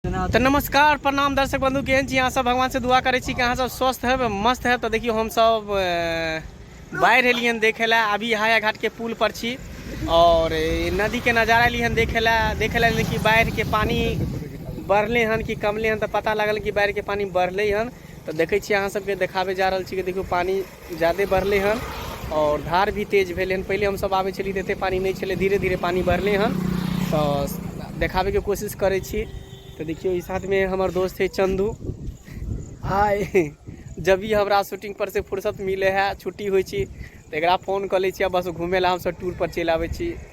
तो नमस्कार प्रणाम दर्शक बंधु केहन छी अहाँ सब भगवान से दुआ करे छी कि अहाँ सब स्वस्थ है मस्त है तो देखियो हम सब बाढ़ एलिए देखे ला अभी हाया घाट के पुल पर छी और नदी के नजारा एलिए देखे ला देखे ला कि बाढ़ के पानी बढ़ले हन कि कमले हन तो पता लगल कि बाढ़ के पानी बढ़ले हन तो देखे छी अहाँ सबके देखाबे जा रहा छी कि देखियो पानी जादे बढ़लै हन आओर धार भी तेज भेलै हन पहिले हमसभ आबै छलियै तऽ एतेक पानि नहि छलै धीरे धीरे पानि बढ़लै हन तऽ देखाबैके कोशिश करै छी तऽ देखियौ ई साथमे हमर दोस्त है चन्दू हाय जब भी हमरा शूटिंग पर से फुर्सत मिलै है छुट्टी होइ छी तऽ एकरा फोन कऽ लै छी आ बस घूमै लए हमसभ टूर पर चलि आबै छी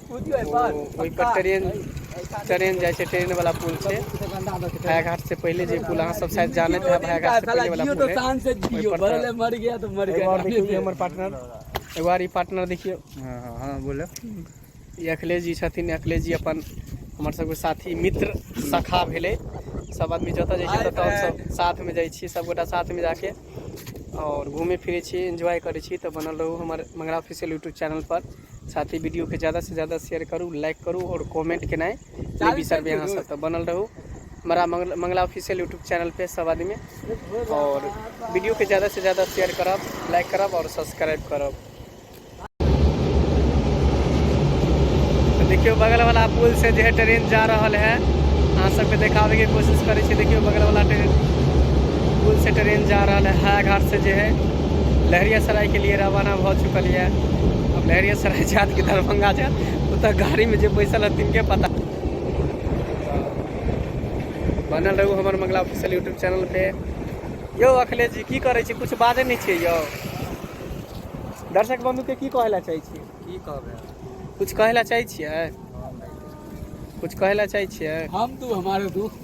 ओहिपर ट्रेन ट्रेन जाइ छै ट्रेन वाला पुल छै भायाघाट से पहिले जे पुल अहाँ सब शायद जानैत है भायाघाट से पहिले वाला पुल है मर गया तो मर गया हमर पार्टनर एगो आर पार्टनर देखियो हां हां हाँ, बोले ई अखिलेश जी छथिन अखिलेश जी अपन हमर सबके साथी मित्र सखा भेले सब आदमी जतऽ जाइ छै ततऽ सब साथ में जाइ छी सब गोटा साथ में जाके और घूमे फिरे छी एंजॉय करे छी तो बनल रहू हमर मंगरा ऑफिशियल यूट्यूब चैनल पर साथ ही वीडियोके ज्यादासँ ज्यादा शेयर करू लाइक करू आओर कमेंट केनाइ नहि बिसरबै अहाँ सब तऽ बनल रहू हमारा Mangal- Mangala official YouTube channel पे सब आदमी और वीडियो के ज्यादा से ज्यादा शेयर करब लाइक करब और सब्सक्राइब करब तो देखियो बगल वाला पुल से जो है ट्रेन जा रहल है अहाँ सबके देखाबे के कोशिश करै छी देखियो बगल वाला ट्रेन पुल से ट्रेन जा रहल है हायाघाट से जो है लहरियासरायके लिए रवाना भऽ चुकल यऽ अब लहरियासराय जायत कि दरभंगा जायत ओतऽ गाड़ीमे जे बैसल है तिनके पता बनल रहू हमर मंगला ऑफिशियल यूट्यूब चैनल पे यौ अखिलेश जी की करै छी कुछ बाजै नहि छियै यौ दर्शक बंधुके की कहै लए चाहै छी की कहबै कुछ कहै लए चाहै छियै कुछ कहै लए चाहै छियै हम तू हमारे दुख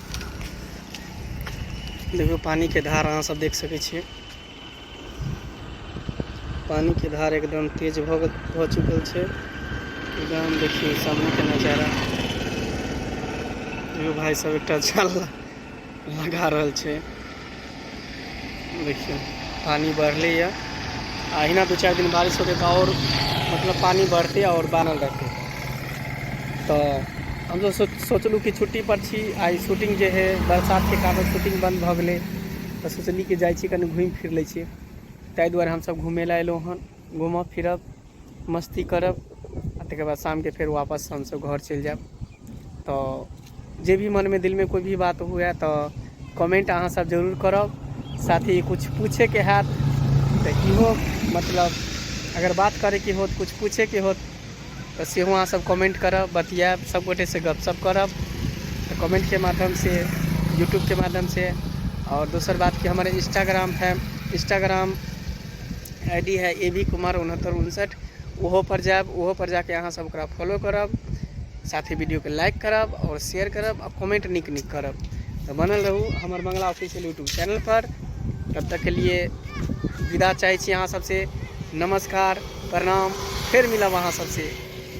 देखियौ पानिके धार अहाँसभ देख सकै छियै पानिके धार एकदम तेज भऽ गेल भऽ चुकल छै एकदम देखियौ सामनेके नजारा देखियौ भाय सब एकटा जाल लगा रहल छै देखियौ पानि बढ़लैए आ अहिना दू चारि दिन बारिश होतै तऽ आओर मतलब पानि बढ़तै आओर बानल रहतै तऽ हम तऽ सोच सोचलहुँ कि छुट्टीपर छी आइ शूटिंग जे हइ बरसातके कारण शूटिंग बन्द भऽ गेलै तऽ सोचली कि जाइ छी कनि घुमि फिर लै छी ताहि दुआरे हमसभ घूमय लए अयलहुँ हन घूमब फिरब मस्ती करब आ तकर बाद शामके फेर वापस हमसभ घर चलि जायब तऽ जे भी मनमे दिलमे कोइ भी बात हुए तऽ कमेंट अहाँ सब जरूर करब साथ ही कुछ पूछेके हैत तऽ इहो मतलब अगर बात करैके होत कुछ पूछेके होत तऽ सेहो अहाँ सब कमेंट करब बतियाब सब गोटे से गपशप करब तऽ कमेंट के माध्यम से यूट्यूब के माध्यम से और दोसर बात कि हमारे Instagram fam Instagram I D है ए बी कुमार उनहत्तर उनसठ ओहो पर जायब ओहो पर जाके अहाँ सब ओकरा फॉलो करब साथ ही वीडियो के लाइक करब और शेयर करब और कमेंट निक निक करब तो बनल रहू हमर मंगला ऑफिशियल यूट्यूब चैनल पर तब तक के लिए विदा चाहे छी अहाँ सबसे नमस्कार प्रणाम फिर मिलब अहाँ सबसे